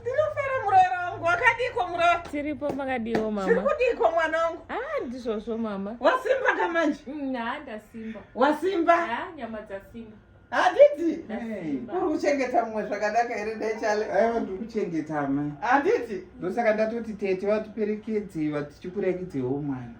Ndinofara muroora wangu wakadiko muroora. Tiripo makadiwo mama. Tiri kudiko mwana wangu. Ah ndizvozvo mama. Wasimba ka manje? Mm, ha ndasimba. Wasimba? Ha nyama dzasimba. Handiti? Uri kuchengeta mumwe zvakadaka here ndechale? Aiwa ndiri kuchengeta mai. Handiti? Ndosaka ndatoti tete vatiperekedze vatichikurekedzewo mwana.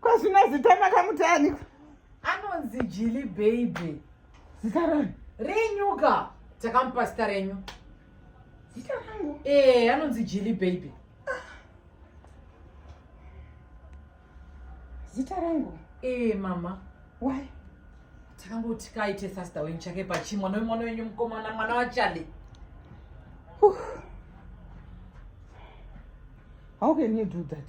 kwazvina zita makamuti ani anonzi jili baby zita rani renyuka takamupa zita renyu zita rangu ee eh, anonzi jili baby zita rangu ee eh, mama why takangoti kaite sasta wenyu chake pachi mwana wemwana wenyu mukomana mwana wachale how can you do that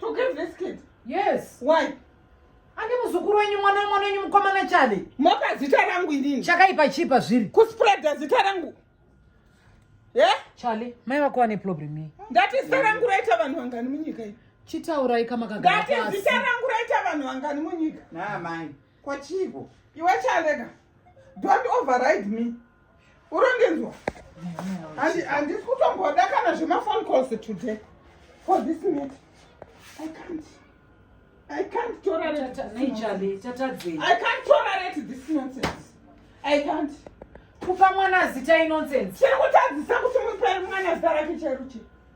to give this kid yes why ane muzukuru wenyu mwana wemwana wenyu mukomana chale mopa zita rangu inini chakaipa chii pazviri kuspreada zita rangu ye chale mai vako vane problem iyi ndati zita rangu raita vanhu vangani munyika iyi chitaurai kamakagara pasi ndati zita rangu raita vanhu vangani munyika naamai kwachiiko iwe chaleka don't override me urondinzwa handisi kutomboda kana zvemaphone calls today for this minute i can't I can't tolerate I can't tolerate this nonsense. I can't. Kupa mwana zita inonsense. Chiri kutadzisa kuti mupe mwana zita rake chairuchi.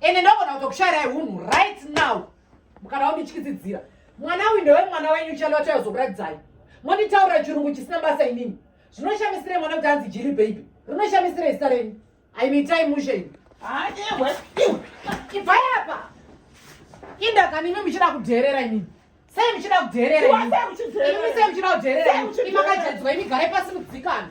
ende ndogona kutokushairai unhu right now mukana wandityidzidzira mwana uyu ndewe mwana wenyu chalo vachayozokuratidzai monditaurira chirungu chisina basa inini zvinoshamisirei mwana kuti anzi jiri baby rinoshamisirei zita renyu aimitai mushe ini haewe iwe ibvai apa indakani imi muchida kudheerera inini sei muchida kudheerera imi sei muchida kudheerera imi makajadzwa imi garai pasi mudzikana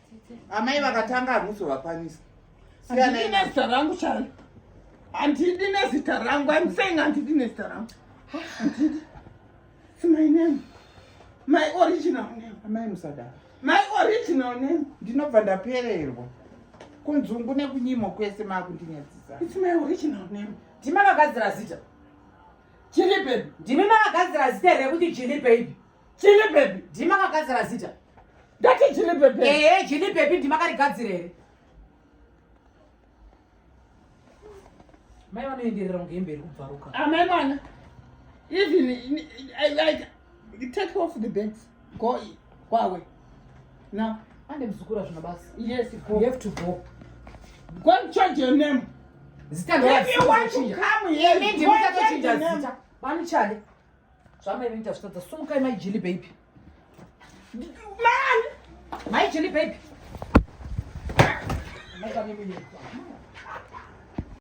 amai vakatanga hamusovakwanisa handidi nezita rangu chalo handidi nezita rangu im saying handidi nezita rangu handidi its my name my original name amai musadaro my original name ndinobva ndapererwa kunzungu nekunyimo kwese maakundinyadzisa its my original name ndima vakagadzira zita jilipe ndimi makagadzira zita here rekuti jilipe ipi Chili baby ndima kagadzira zita. Ndati chili baby. Eh, eh chili baby ndima karigadzira here? Mai vanoenderera kunge hembe iri kubvaruka. Amai ah, mwana. Even I like take off the bags. Go kwawe. Now, ande mzukuru azvina basa. Yes, go. You have to go. Go and change your name. Zita ndira. If you want to come here, go and change your name. Bani chale. Zvamai vini tazvitadza sumukai mai Jilly baby. Man! Mai Jilly baby. Mai vane mimi.